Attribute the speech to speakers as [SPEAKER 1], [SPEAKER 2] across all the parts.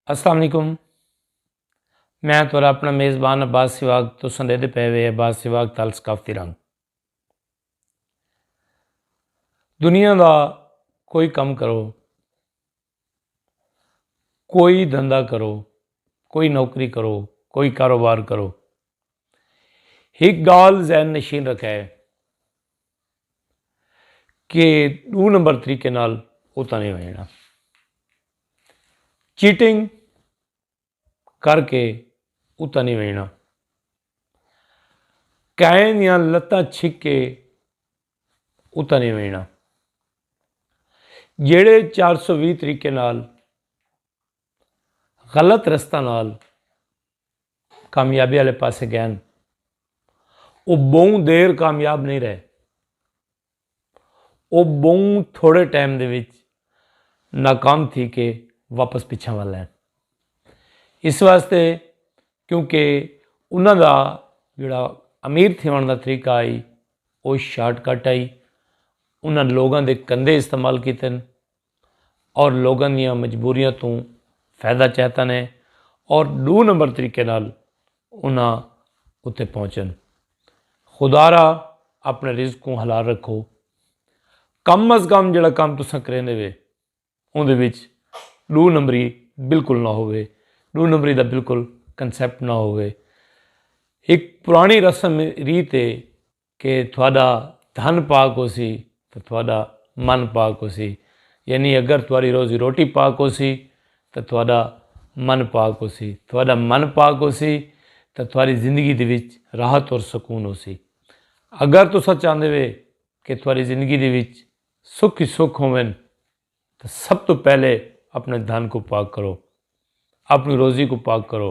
[SPEAKER 1] السلام علیکم میں تھوڑا اپنا میزبان عباس سواگ تو سندے دے پے وے عباس سواگ تال ثقافتی رنگ دنیا دا کوئی کم کرو کوئی دھندا کرو کوئی نوکری کرو کوئی کاروبار کرو ایک گال ذہن نشین رکھے کہ ڈو نمبر طریقے نال اتنا نہیں ہونا چیٹنگ کر کے اتنا نہیں ہونا کائے دیا لتاں چھک کے اتنا نہیں ہونا جیڑے چار سو بھی طریقے نال غلط رستہ نال کامیابی آلے پاسے گئن۔ او بہوں دیر کامیاب نئیں رہے۔ او بہوں تھوڑے ٹائم دے وچ ناکام تھی کے واپس پچھاں ول آئن۔ اس واسطے کیونکہ انہاں دا جڑا امیر تھیون دا طریقہ آئی او شارٹ کٹ آئی۔ انہاں لوگاں دے کندھے استعمال کیتے۔ اور لوگاں دیاں مجبوریاں توں فیدہ چہتن ہے اور ڈو نمبر طریقے نال انہاں اتے پہنچن۔ خدارا اپنے رزق کوں حلال رکھو۔ کم از کم جڑا کم تساں کریندے وے اوندے وچ ڈو نمبری بالکل نہ ہووے۔ ڈو نمبری دا بالکل کنسپٹ نہ ہووے۔ ایک پرانی رسم ریت ہے۔ کہ تہاݙا دھن پاک ہوسی تاں تہاݙا من پاک ہوسی، یعنی اگر تہاݙی روزی روٹی پاک ہوسی تاں تہاݙا من پاک ہوسی، تہاݙا من پاک ہوسی تاں تہاݙی زندگی دے وچ راحت اور سکون ہوسی۔ اگر تساں چاہندے وے کہ تہاݙی زندگی دے وچ سکھ ہی سکھ ہوون تاں سب توں پہلے اپݨے دھن کوں پاک کرو، اپݨی روزی کوں پاک کرو،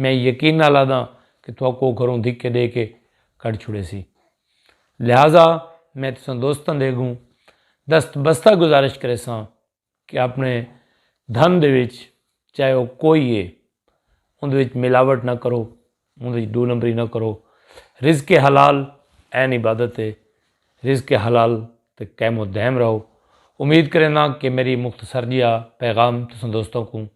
[SPEAKER 1] میں یقین نال آہداں کہ تہاکوں او گھروں دھکے ڈے کے کڈھ چھوڑیسی۔ لہذا میں تساں دوستاں دے اگوں دست بستہ گزارش کریساں کہ اپنے دھن دے وچ چاہے او کوئی اے اوندے وچ ملاوٹ نہ کرو، اوندے وچ ڈو نمبری نہ کرو۔ رزق حلال عین عبادت اے۔ رزق حلال تے قائم و دائم رہو۔ امید کرینداں کہ میڈی مختصر جیہا پیغام تساں دوستاں کوں۔